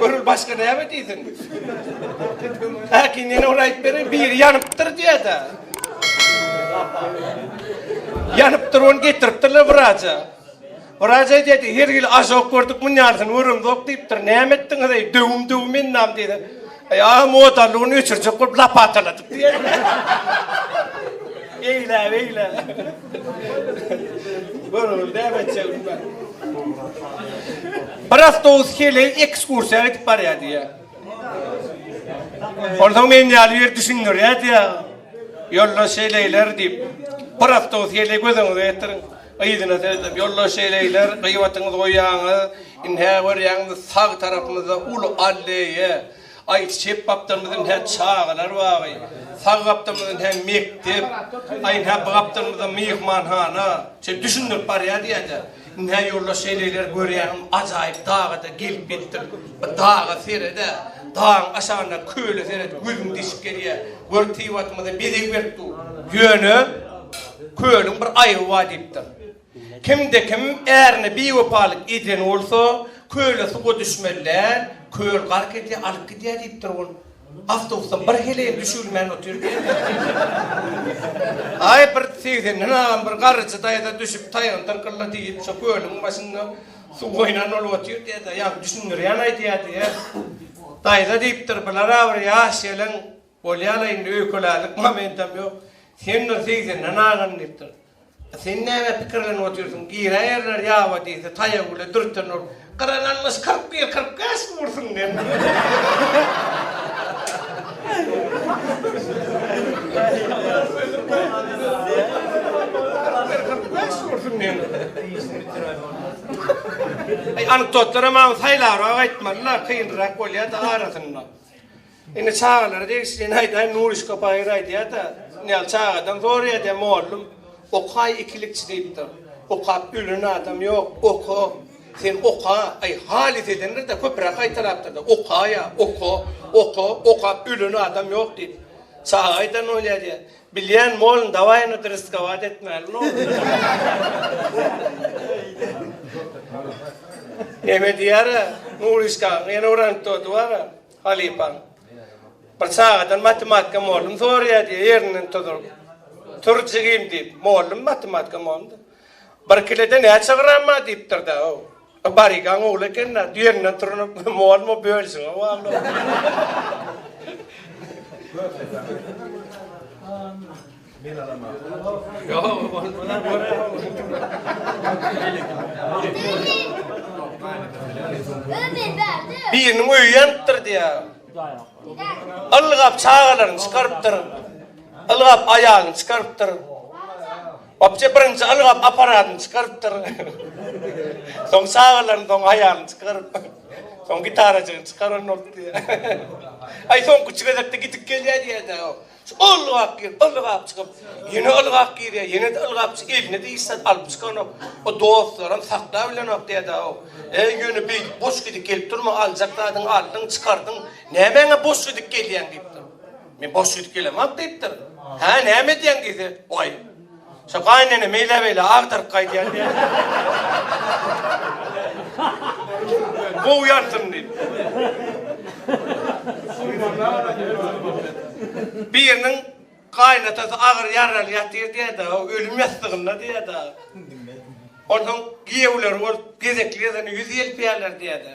Görül başga näme diýsin? Häkim ýene ol aýt beri biri ýanypdyr diýädä. Ýanypdyr ony getiripdirler wraja. Wraja diýdi, her ýyl ažok gördük münýansyny göremzok diýipdir. Näme etdiňiz eý, döwüm döwüm endam diýdi. Ýa modalygyny öçürjek bolup lapataladyp Eýle, eýle. Görüň, näme etjek bilmän. Bir awtobus heleý ekskursiýa gidip barýar diýýär. Onsoň men ýaly ýer düşündirýär diýýär. Ýoldaş heleýler diýip, bir awtobus heleý gözüňize getiriň. Yzyna seredip ýoldaş şeýleýler, gyýbatyňyzy goýýaňyz. Indi hä görýäňizmi, sag tarapymyzda uly alleýa. Aý, çep gapdalymyz indi hä çagalar bagy. Sag gapdalymyz indi hä mekdep. Aý, indi hä bu gapdalymyzda myhmanhana. Şeýdip düşündirip barýar diýende, indi hä ýoldaş şeýleýler görýäňizmi, ajaýyp daga-da gelip ýetdik. Bir daga sere-de, dagyň aşagyndaky köle seret, gözüň deşip gelýär. Gör, tybatymyza bezeg berip dur. Ýöne. Kölüň bir aýby bar diýipdir. Kimde-kim ärine biwepalyk eden bolsa, köle suwa düşmeli-dä, köl gark edýär, alyp gidýär diýipdir ol. Awtobusdan bir heleýem düşübilmän otyr diýen. Aý, bir segsenden agam bir garryja daýza düşüp taýagyny tyrkylla diýip, şo kölüň başynda suw oýnan bolup otyr diýen-dä. Ýa düşündirýän aýdýar diýen. Daýza diýipdir, Bilara bir ýaş gelen Bolýa-la indi öýkelärlik momentam ýok. Sen bir segsendan aşan diýipdir. Sen nämä pikirlenip otyrsyň? Giräýerler ýaba diýse, taýagy bile dürten ol. Gyran almyş kyrk bir, kyrk bäş mi ursun diýen. Anekdotlara maňa saýlabrak aýtmalylar, kynrak bolýa-da arasynda. Indi çagalara degişlini aýdaýyn, Nuryşka Baýyr aýdýar-da, Nyýaz çagadan soraýar diýýär, Mollum, okaý ikilikçi diýipdir. Okap ölen adam ýok, oka, sen oka, aý, halys edendir-de, köpräk gaýtalapdyr-da, okaýa, oka, oka, okap ölen adam ýok diýip. Çaga aýdan bolýar diýýär, Bilýän, mollum, dawaý onda rysgowat etmäliň oglumy. Neme diýýär-ä, Nuryşkaň ýene bir anekdoty bar-a. Halypaň, Bir çagadan matematika mollum soraýar, diýýär, ýerinden tuduryp. Tur, jigim, diýip, mollum matematika mollumy? Bir kilede näçe gram bar? diýipdir-dä-ow. Barygaň ogly eken-dä, ýerinden turnup, mollum, o bölüşiňe bagly-ow. Men alaman. Yo, bolmana göre. Biriniň öýi ýanypdyr diýýär. Ylgap çagalaryny çykarypdyr. Ylgap aýalyny çykarypdyr. Wapje birinji ylgap apparatyny çykarypdyr. Soň çagalaryny, soň aýalyny çykaryp. Soň gitarajygyny çykaran bolup diýýär. Aý soňky üç gezekde gidip gelýär diýýär-de. Ylgap girip, ylgap çykyp, ýene ylgap girýär, ýene-de ylgap çykyp, eline diýseň alyp çykanok. O dostlaram saklap bilenok däde-ow. Äý, ýöne beýdip boş gidik gelip durma, aljak zadyňy aldyň, çykardyň, nämäňe boş gidik gelýäň diýipdir. Men boş gidik gelemok diýipdir. Hä, näme edýäň diýse, Waý, Şo gaýynene meýlebeýle agdaryp gaýdýan diýýän. Gowy ýansyn diýip. Biriniň gaýynatasy agyr ýaraly ýatyr diýýär-de, ölüm ýassygynda diýýär-de. Onsoň giýewleri bolup gezekli gezegine ýüz ýelpeýärler diýýär-de.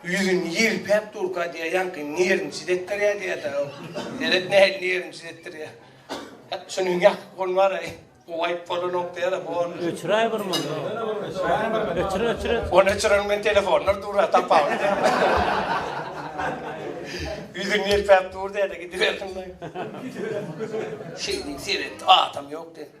Ýüzüni ýelpäp durka diýýär, ýaňky nerwniçiz etdirýär diýýär-dä ol. Seret nähili nerwniçiz etdirýär. Şunuň ýakyp ol bar-aý, gowaýyp bolanok diýýär-ä, bor. Öçüräý bir mundan. Öçür, öçür, öçür. Ony öçüreniň bilen telefonlar dur-a, tapawudy näme? Ýüzüni ýelpäp dur diýýär-de, gidibersin-laý. Şeýdip seretdi, atam ýok diýdi.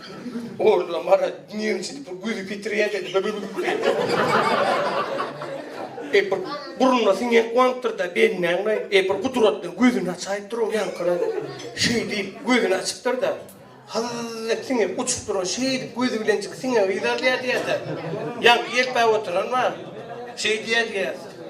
Orla mara dünýeň içi bir güzi petirýä dedi. E bir burnuna siňen guwanypdyr-da, bennäňmi? E bir gudratly gözüni açaýyp dur oň ýaňkyna. Şeý diýip, gözüni açypdyr-da, halal-lak siňip uçup duran şeýdip gözi bilenjik siňe gyz alýa diýýä-de, ýaňky ýelpäp oturan bar. Şeý diýýä diýýä.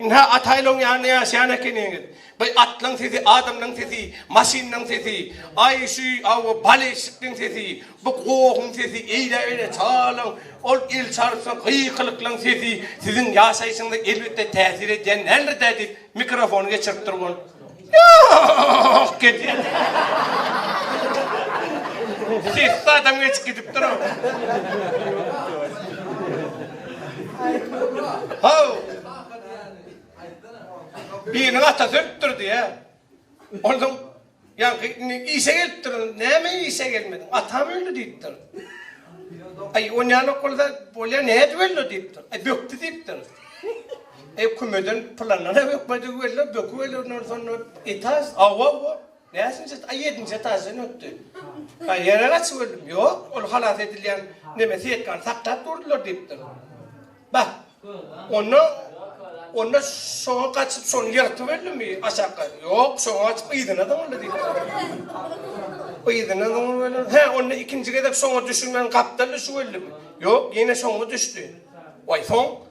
Ynha, ataýlaň ýanynda ýaşaýan ekeniňiz. By atlaň sesi, adamlaň sesi, maşynlaň sesi, aý, şu awy baleşikliň sesi, bu gohuň sesi, eýläberi çagalaň, ol elçarpsyn gykylyklaň sesi siziň ýaşaýşyňyza elbetde täsir edýän däldir-dä diýip, mikrofony geçirip durgun. Ýok, getirin. Sessiz adam geçip gidipdir o. Haw! Biriniň atasy ölüpdir diýýä. Onsoň ýaňky indi işe gelipdir. Näme işe gelmediň? Atam öldi diýipdir. Aý, onýanok bolsa bolýa, nädip öldi diýipdir. Aý, bökdi diýipdir. Ökümeden pylanyna bökmedik welin, bökübelenler soňlar etaž, awa bu, näçinji et, a ýedinji etaždan ötdi. A ýene gaçybeldimi? Ýok, ol halas edilýän neme setkany saklap durdylar diýipdir. Bah, onda, onda şoňa gaçyp, şony ýyrtybeldimi aşakka? Ýok, şoňa gaçyp yzyna zyňyldy diýipdir. Yzyna zyňybeler, hä, onda ikinji gezek şoňa düşünmän gapdal düşübeldimi? Ýok, ýene şoňa düşdi. Waý, soň?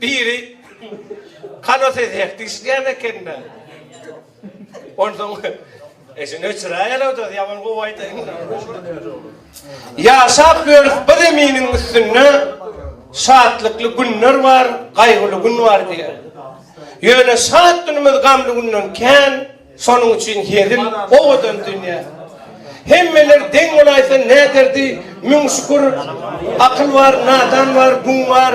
Biri Halo ses heh diýişýän ekende. Onsoň eşini öçüräýerowdaz ýaman gowy aýdaýyň. Ýaşap ýörüs bu zeminiň üstünde şatlykly günler bar, gaýgyly gün bar diýýär. Ýöne şat günümiz gamly günden kän. Şonuň üçin hezil owadan dünýe. Hemmeler deň bolaýsa näderdi, müň şükür, akyl bar, nadan bar, gün bar,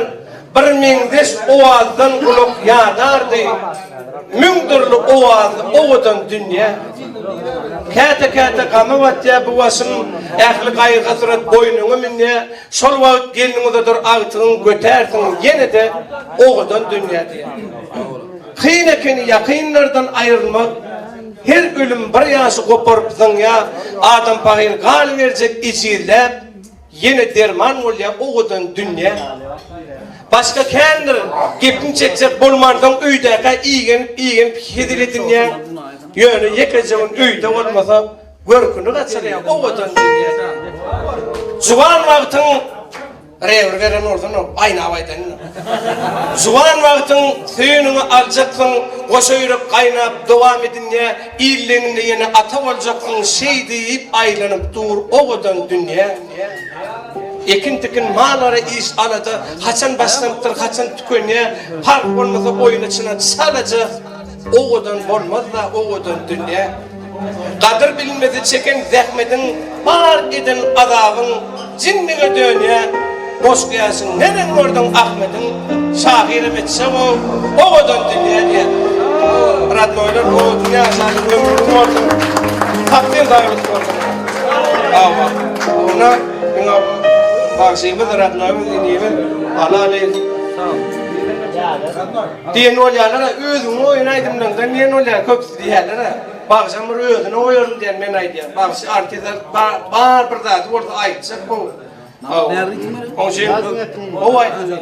bir meňzeş owazdan gulak ýanardy, müň dürli owazly owadan dünýe. Käte-käte gama batýar bu başym, ähli gaýgy-hasrat boýnuňa münýär, şol wagt gelniň uzadyr agtygyň götärsiň ýene-de owadan dünýä diýýär. Kyn ekeni ýakynlardan aýrylmak, her ölüm bir ýaşy goparyp zyňýar, adam pahyr galyberjek ejizläp, ýene derman bolýar owadan dünýä. Başga kändir gepiň çekjek bolmansoň öýdäkä igenip-igenip hezil edinýäň, ýöne ýekeje gün öýde bolmasa, görküni gaçyrýar owadan dünýä diýip. Juwan wagtyň. Rewir beren bolsan ol gaýnap aýdan indi. Juwan wagtyň söýeniňi aljaksyň goşa ýürek gaýnap dowam edinýä illeňinde ýene ata boljaksyň şeý diýip aýlanyp dur owadan dünýä ekin tikin mal ara iş alada haçan başlanypdyr haçan tükenýä park bolmasa oýna çyna çalaja Owadan bolmaz-da owadan dünýe. Gadyr bilinmese çeken zähmediň, bar eden azabyň jinlige dönýä. Boş gäşiň neneň gördüň Ahmediň, şahyram etjeg-ow, owadan dünýe diýýär. Rodnoýlar owadan ýaşaýyň ömrüň bolsun. Takdyr daýalyk bolsun. Hawa. Ýöne diňe bagşymyz, rodnoýymyz, inimiz, halalyz. Diýen bolýalar-a, özüňi goýan aýdymlaryňdan diýen bolýar köpüsi diýýäler-a. Bagşam bir özüni goýaryn diýen men aýdýan. Bagşy artizar bar bir zady bolsa aýtjak gowy. Hawa. Oňşin gowy aýdymlar.